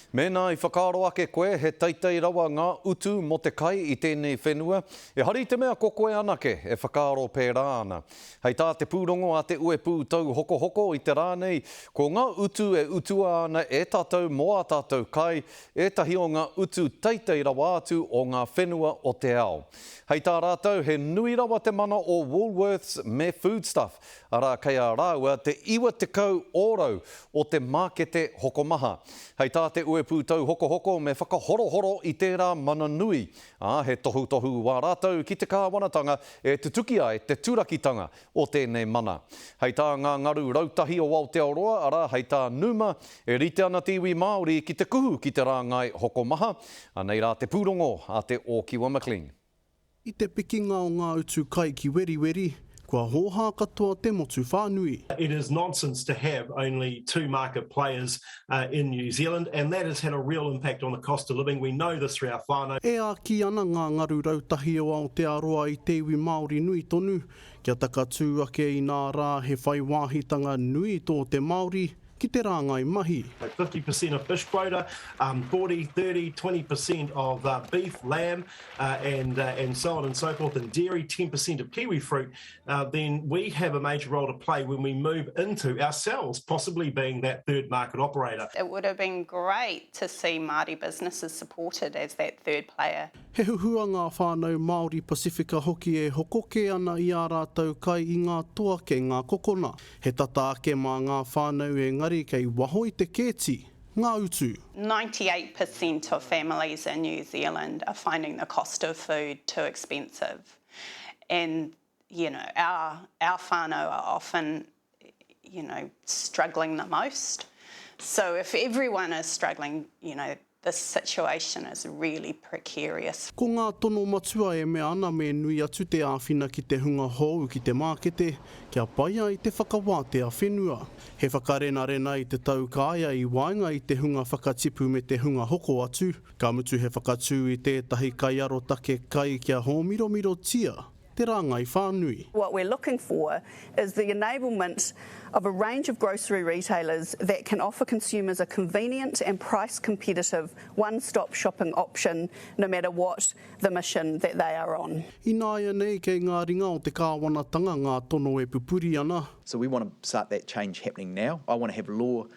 Mēnā i whakaaro ake koe he teitei rawa ngā utu mō te kai i tēnei whenua, ehara i te mea ko koe anake e whakaaro pērā ana. Hei tā te pūrongo a Te Uepū Tauhokohoko i te rā nei, ko ngā utu e utua ana e tātou mō ā tātou kai, ētahi o ngā utu teitei rawa atu o ngā whenua o te ao. Hei tā rātou he nui rawa te mana o Woolworths me Foodstuff, arā, kei a rāua te 90 ōrau o te mākete hokomaha. Hei tā te uepū tauhokohoko me whakahorohoro i tērā mana nui, ā, he tohutohu wā rātou ki te kāwanatanga e tutuki ai te turakitanga o tēnei mana. Hei tā ngā ngaru rautahi o Aotearoa, arā, hei tā Numa, e rite ana te iwi Māori ki te kuhu ki te rāngai hokomaha, anei rā te pūrongo a Te Ōkiwa McLean. I te pikinga o ngā utu kai ki Weriweri, kua hōhā katoa te motu whānui. It is nonsense to have only two market players in New Zealand and that has had a real impact on the cost of living, we know this through our whānau. E āki ana ngā ngaru rautahi o Aotearoa i te iwi Māori nui tonu kia takatū ake inā rā he whai wāhitanga nui tō te Māori, ki te rāngai mahi. Like 50 per cent of fish quota, um, 40, 30, 20 per cent of uh, beef, lamb, uh, and uh, and so on and so forth, and dairy, 10 per cent of kiwi fruit, uh, then we have a major role to play when we move into ourselves, possibly being that third market operator. It would have been great to see Māori businesses supported as that third player. He huhua ngā whānau Māori Pasifika hoki e hoko kē ana i ā rātou kai i ngā toa kei ngā kokona. He tata ake mā ngā whānau engari kei waho i te kēti ngā utu. 98 per cent of families in New Zealand are finding the cost of food too expensive and you know our our whānau are often you know struggling the most so if everyone is struggling you know The situation is really precarious. Ko ngā tono matua e mea ana me nui atu te āwhina ki te hunga hou ki te mākete kia pai ai te whakawātea whenua. He whakarenarena i te tau kāea i waenga i te hunga whakatipu me te hunga hoko atu, ka mutu he whakatū i tētahi kaiarotake kai kia hōmiromirotia te rāngai whānui. What we're looking for is the enablement of a range of grocery retailers that can offer consumers a convenient and price competitive one-stop shopping option no matter what the mission that they are on. Ināianei kei ngā ringa o te kāwanatanga ngā tono e pupuri ana. So we want to start that change happening now. I want to have law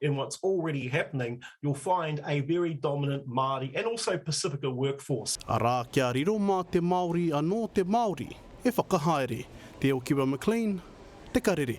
in what's already happening, you'll find a very dominant Māori and also Pasifika workforce. Arā, kia riro mā te Māori anō te Māori e whakahaere, Te Okiwa McLean, Te Karere.